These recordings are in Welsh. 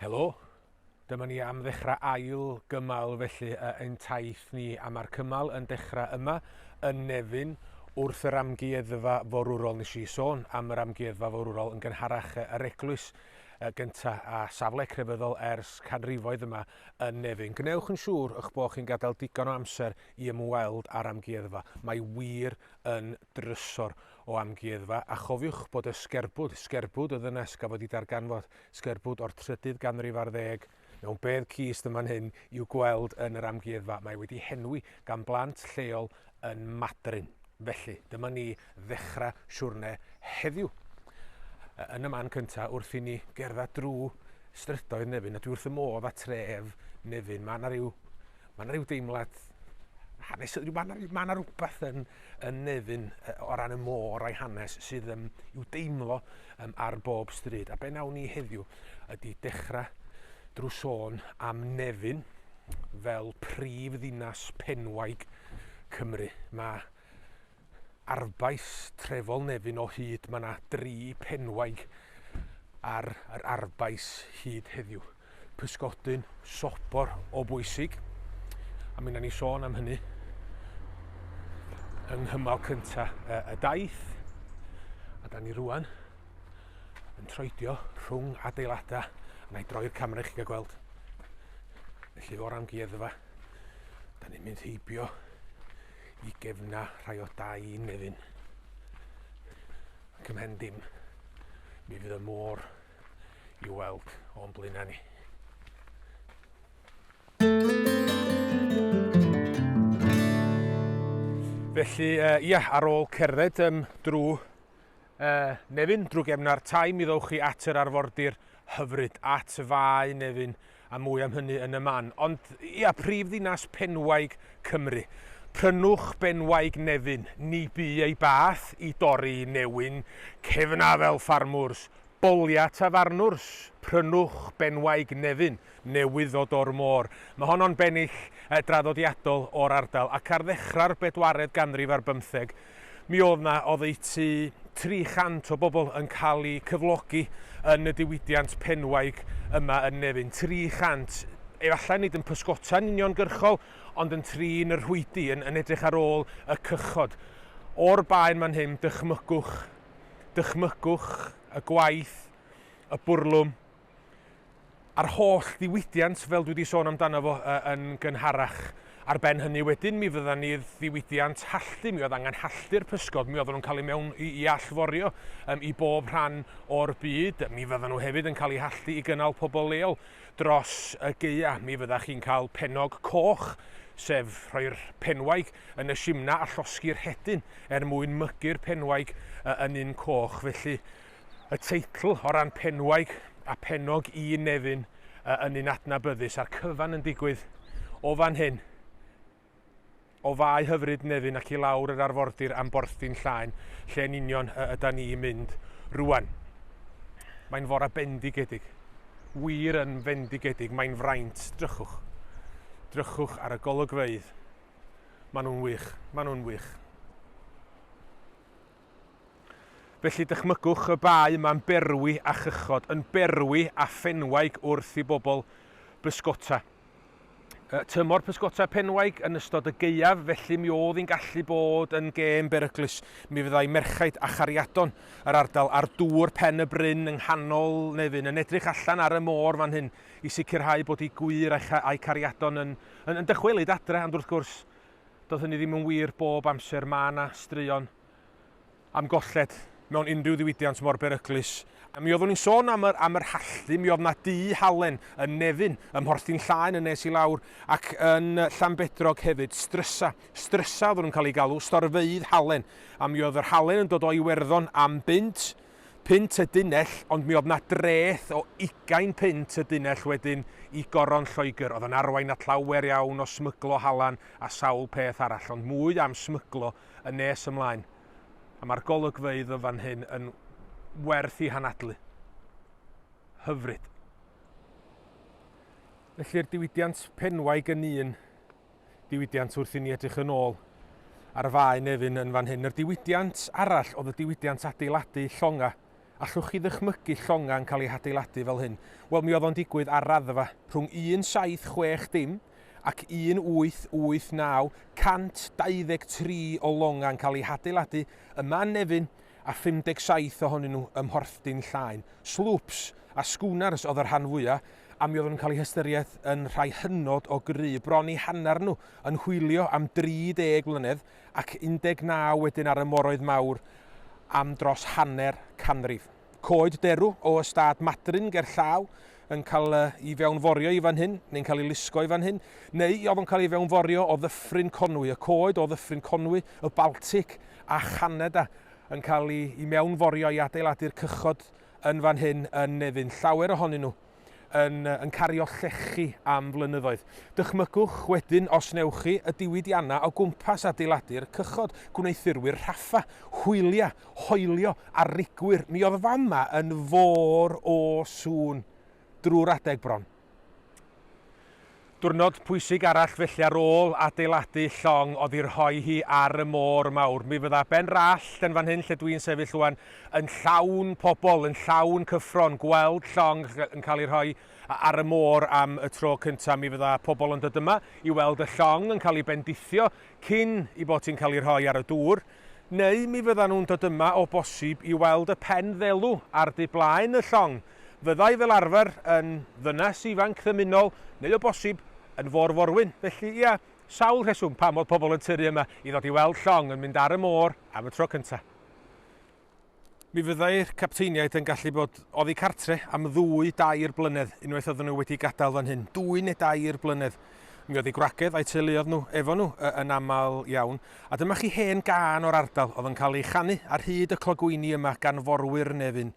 Helo! Dyma ni am ddechrau ail gymal felly yy ein taith ni a mae'r cymal yn dechrau yma yn Nefyn wrth yr amgueddfa forwrol. Nes i sôn am yr amgueddfa forwrol yn gynharach yy yr eglwys yy gynta a safle crefyddol ers canrifoedd yma yn Nefyn. Gwnewch yn siŵr y'ch bod chi'n gadael digon o amser i ymweld â'r amgueddfa, mae wir yn drysor o amgueddfa, a chofiwch bod y sgerbwd, sgerbwd y ddynes gafodd ei darganfod, sgerbwd o'r trydydd ganrif ar ddeg, mewn bedd cist yn fan hyn i'w gweld yn yr amgueddfa, mae wedi henwi gan blant lleol yn Madryn. Felly, dyma ni ddechrau siwrne heddiw yn y man cyntaf wrth i ni gerdded drwy strydoedd Nefyn, a dwi wrth y modd â tref Nefyn. Mae yna rhyw Mae yna rhyw deimlad hanes, mae yna, ma yna rhywbeth yn, yn nefyn o ran y môr a'i hanes sydd um, i'w deimlo um, ar bob stryd. A be nawn ni heddiw ydy dechrau drwy sôn am nefyn fel prif ddinas penwaig Cymru. Mae arfbais trefol Nefyn o hyd. Mae yna dri phenwaig ar yr arfbais hyd heddiw. Pysgodyn sobor o bwysig, a mi wna ni sôn am hynny yng nghymal cyntaf y, y daith. A da ni rwan yn troedio rhwng adeiladau, a na i droi'r camera i chi gael gweld. Felly o'r amgueddfa, da ni'n mynd heibio i gefna rhai o dau un nefyn. Ac ymhen dim, mi fydd y môr i weld o'n blaenau ni. Felly, uh, ia, ar ôl cerdded um, drwy Yy, Nefyn, drwg emna'r tai mi ddowch chi at yr arfordir hyfryd, at Fae Nefyn, a mwy am hynny yn y man. Ond, ia, prif ddinas Penwaig Cymru. Prynwch Benwaig Nefyn, ni bu ei bath i dorri newyn cefna fel ffarmwrs, bolia tafarnwrs, prynwch Benwaig Nefyn, newydd ddod o'r môr. Mae honno'n bennill yy draddodiadol o'r ardal, ac ar ddechrau'r bedwaredd ganrif ar bymtheg, Mi oedd 'na oddeutu 300 o bobl yn cael eu cyflogi yn y diwydiant penwaig yma yn Nefyn. 300, efallai nid yn pysgota'n uniongyrchol, ond yn trin y rhwydi, yn, yn edrych ar ôl y cychod. O'r baen fan hyn, dychmygwch, dychmygwch y gwaith, y bwrlwm, a'r holl ddiwydiant, fel dwi wedi sôn amdano fo uh, yn gynharach. Ar ben hynny wedyn, mi fydda ni ddiwydiant halltu, mi oedd angen halltu'r pysgod, mi oedden nhw'n cael ei mewn i, i allforio um, i bob rhan o'r byd, mi fydda nhw hefyd yn cael ei halltu i gynnal pobl leol dros y geia. Mi fydda chi'n cael penog coch, sef rhoi'r penwaig yn y simna a llosgi'r hedyn er mwyn mygu'r penwaig uh, yn un coch. Felly, Y teitl, o ran penwaig a phennog un nefyn y yn un adnabyddus, a'r cyfan yn digwydd o fan hyn, o Fae hyfryd Nefyn ac i lawr yr arfordir am Borthdin Llaen, lle yn union y yda ni i mynd rwan. Mae'n fora bendigedig. Wir yn fendigedig, mae'n fraint. Drychwch. Drychwch ar y golygfeydd. Maen nhw'n wych, maen nhw'n wych. Felly dychmygwch y bae yma'n berwi â chychod, yn berwi â phenwaig wrth i bobl bysgota. Y tymor pysgota penwaig yn ystod y gaeaf, felly mi oedd hi'n gallu bod yn gêm beryglus. Mi fyddai merchaid a chariadon yr ardal ar dŵr pen y bryn yng nghanol Nefyn yn edrych allan ar y môr fan hyn i sicrhau bod eu gwŷr a'u cariadon yn, yn, yn dychwelyd adre, ond wrth gwrs, Doedd hynny ddim yn wir bob amser, mae yna straeon am golled mewn unrhyw ddiwydiant mor beryglus. A mi oeddwn i'n sôn am yr, am yr halldy, mi oedd yna du halen yn Nefyn, ym Mhorthyn Llaen yn nes i lawr, ac yn Llanbedrog hefyd, strysa. Strysa oeddwn nhw'n cael eu galw, storfeydd halen. A mi oedd yr halen yn dod o Iwerddon am bunt, punt y dunnell ond mi oedd 'na dreth o ugain punt y dunnell wedyn i Goron Lloegr oedd yn arwain at lawer iawn o smyglo halan a sawl peth arall ond mwy am smyglo yn nes ymlaen a mae'r golygfeydd yn fan hyn yn werth i hanadlu. Hyfryd. Felly'r diwydiant penwaig yn un diwydiant wrth i ni edrych yn ôl ar y Fae Nefyn yn fan hyn. Yr diwydiant arall oedd y diwydiant adeiladu llonga. Allwch chi ddychmygu llonga yn cael ei hadeiladu fel hyn? Wel, mi oedd o'n digwydd ar raddfa. Rhwng 1760 dim ac 1889, 123 o longa yn cael eu hadeiladu yma yn Nefyn, a 57 ohonyn nhw ym Mhorthdin Llaen. Slwps a schooners oedd y rhan fwyaf, a mi oeddwn yn cael eu hystyried yn rhai hynod o gry. Bron i hanner nhw yn hwylio am 30 mlynedd ac 19 wedyn ar y moroedd mawr am dros hanner canrif. Coed derw o ystâd Madryn gerllaw, yn cael ei fewnforio i fan hyn, neu'n cael ei lusgo i fan hyn, neu oedd o'n cael ei fewnforio o ddyffryn Conwy, y coed o ddyffryn Conwy, y Baltic a Chanada yn cael ei, ei mewnforio i adeiladu'r cychod yn fan hyn yn Nefyn. Llawer ohonyn nhw yn, yn cario llechi am flynyddoedd. Dychmygwch wedyn os newch chi y diwydiannau o gwmpas adeiladu'r cychod, gwneuthurwyr rhaffa, hwyliau hoelio a rigwyr, mi oedd fama yn fôr o sŵn drwy'r adeg bron. Dwrnod pwysig arall felly ar ôl adeiladu llong oddi rhoi hi ar y môr mawr. Mi fydda Ben Rallt yn fan hyn lle dwi'n sefyll rwan yn llawn pobl, yn llawn cyffro'n gweld llong yn cael ei rhoi ar y môr am y tro cyntaf. Mi fydda pobl yn dod yma i weld y llong yn cael ei bendithio cyn i bod hi'n cael ei rhoi ar y dŵr. Neu mi fyddan nhw'n dod yma o bosib i weld y pen ddelw ar du blaen y llong. Fyddai fel arfer yn ddynes ifanc ddymunol, neu o bosib yn fôr-forwyn. Felly, ia, sawl rheswm pam oedd pobl yn tyrru yma i ddod i weld llong yn mynd ar y môr am y tro cyntaf. Mi fyddai'r capteiniaid yn gallu bod oddi cartre am ddwy, dair blynedd, unwaith oedden nhw wedi gadael fan hyn. Dwy neu dair blynedd. Mi oedd ei gwragedd a'i teuluodd nhw efo nhw yn aml iawn. A dyma chi hen gân o'r ardal oedd yn cael ei chanu ar hyd y clogwyni yma gan forwyr Nefyn.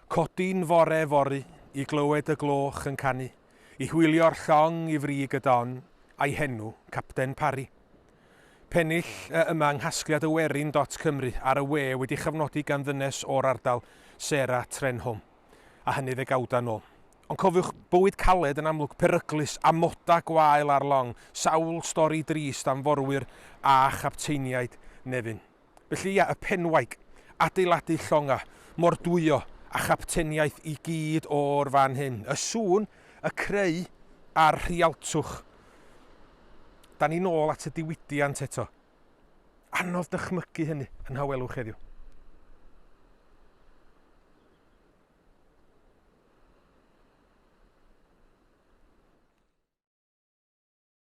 Codi'n fore fory i glywed y gloch yn canu, i hwylio'r llong i frig y don, a'i henw, Capten Parry. Pennill yy yma yng nghasgliad y werin dot cymru ar y we wedi chyfnodi gan ddynes o'r ardal, Sarah Trenholm. A hynny ddegawda nôl. Ond cofiwch, bywyd caled yn amlwg peryglus, amoda gwael ar long, sawl stori drist am forwyr a chapteiniaid Nefyn. Felly ia, y penwaig, adeiladu llonga, mordwyo, a chapteniaeth i gyd o'r fan hyn. Y sŵn, y creu, a'r rhialtwch. Da ni'n ôl at y diwydiant eto. Anodd dychmygu hynny yn hawelwch heddiw.